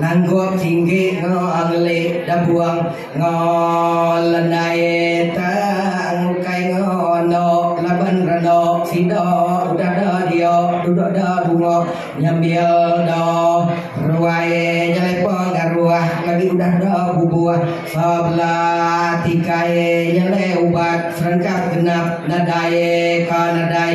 Ngangguk tinggi enggau ngeli dabuang enggau lendai tang ukai enggau enok laban renok sida udah da dia duduk da bunga nyambil da ruai nyelepa ngaruh lagi udah da bubuh sebela tikai nyelai ubat serengkap genap nadai ka nadai.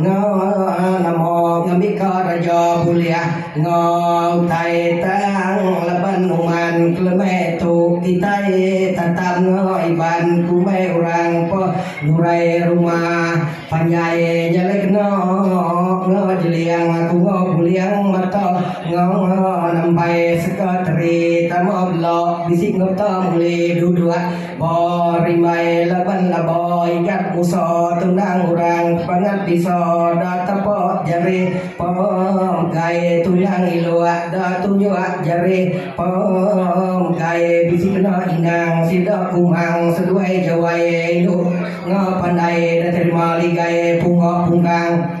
Ngau nama ngambika raja bulih ngau utai tang laban uman keleme tu kitai tatap ngau Iban kumbai orang pa nurai rumah panjai nyelai kena ngau jeling aku ngau buling mata ngau nembai sekretari tama bela bisi nota muli duduk Ba rimbai laban laba igat Musa tunang orang bangat bisa da tapa jari pemgai tunang ilok da tunjok jari pemgai bisi kena inang sida kumang seduai jawai indu ngepandai da terima ligai punga pungkang.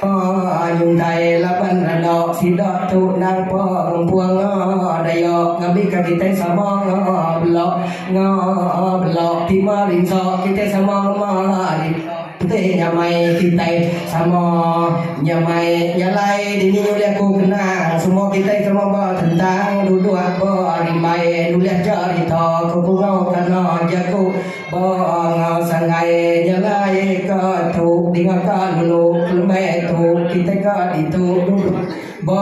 Nyungkai laban randa sida tu endang pengempung daya ngambika kitai sama bela bela ti merinsa kitai sama ngemari penting nyamai kitai sama nyamai nyalai dini ulih aku kenang semua kitai sama betentang duduk berimbai nulih cerita ke bunga kana jaku. Ba enggau sanggai nyelai ka tu dinga ka dulu lembeh tu kitai ka ditu duduk ba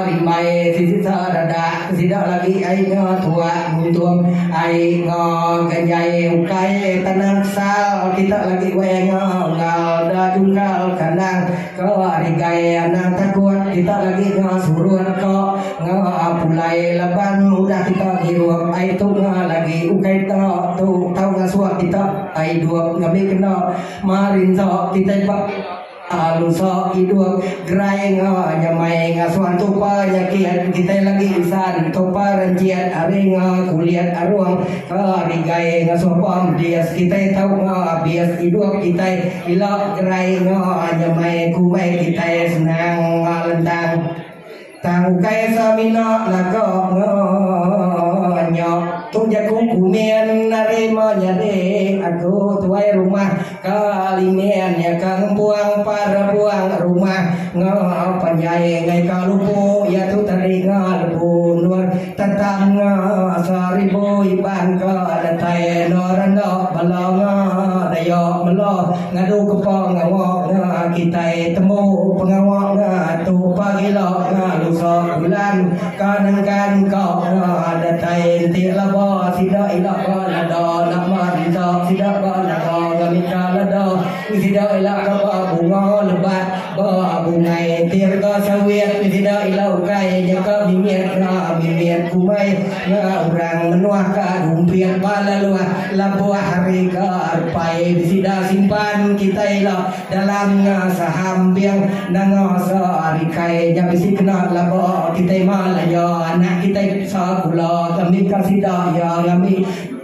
rimbai sesisa redak ke sida lagi ai nya tuak nguntung ai enga ganjai ukai tanang sal kita lagi weh nya enggau da jungkal kandang Ngawa ari gai anang takut kita lagi ngawa surun ko ngawa apulai laban udah kita ngirup ai tunga lagi ukai to tu tau ngasuh kita ai dup ngambi kena ma rinso kitai ba alu so idup gerai ngawa nyamai ngasuh tu pa nyakit kitai lagi insan tu pa renjit ari ngawa kulit arung ngawa ari gai ngasuh pom bias kitai tau ngawa bias idup kitai. Pila gerai enggau a nyemai kumbai kitai senang enggau lentang. Tang ukai sa mina laga enggau nya. Tu jaku kumin ari ma nyadi aku tuai rumah ka limin nya ka ngempuang para puang rumah enggau panjai ngaika lupu iya tu teringa lepu endur. Tetangga seribu iban ke datai enda renda bala nya daya mela ngadu kepa ngawa nya kitai tembu pengawa nya tu pagila nya lusa bulan ka nengkan ka nya datai enti laba sida ila ka lada nama rita sida ba naga ngamika lada sida ila ka ba bunga lebat Ba bungai tirga sawit ti sida ila ukai nyeka mimit ra mimit kumai nga orang menua ka rumbit ba laluh labuh ari ga arpai sida simpan kitai ila dalam nga saham bank nanga sa ari kai nya bisi kena laba kitai mal aya anak kitai sa gula kami ka sida iya ngambi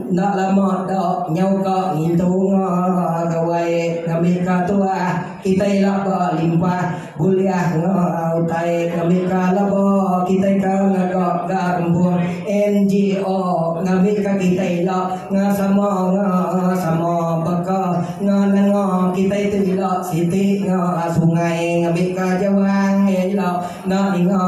Enda lama da nyau ka ngintu unga gawai ngambika tuah kitai ila ba limpah buliah enga utai ngambika laba kitai ka ngaga ga rempung NGO ngambika kitai ila enga sama enga sama baka enga nenga kitai tu ila siti enga sungai ngambika jawang iya ila enda ninga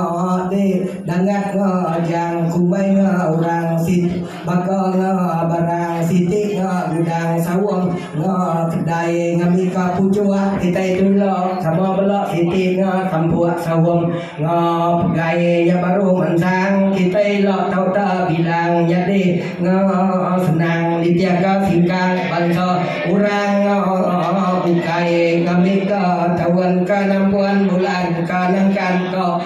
deh dangat enga ajang kumbai enga orang siti. Baka nya barang siti nya gudang saung nya kedai ngambika puchuk kitai tu ila sama bela siti nya kampuk saung nya pegai nya baru mansang kitai ila tau ta bilang nyadi nya senang ditiaka singkang bansa urang nya ukai ngambika taun ka nampuan bulan ka nangkan ka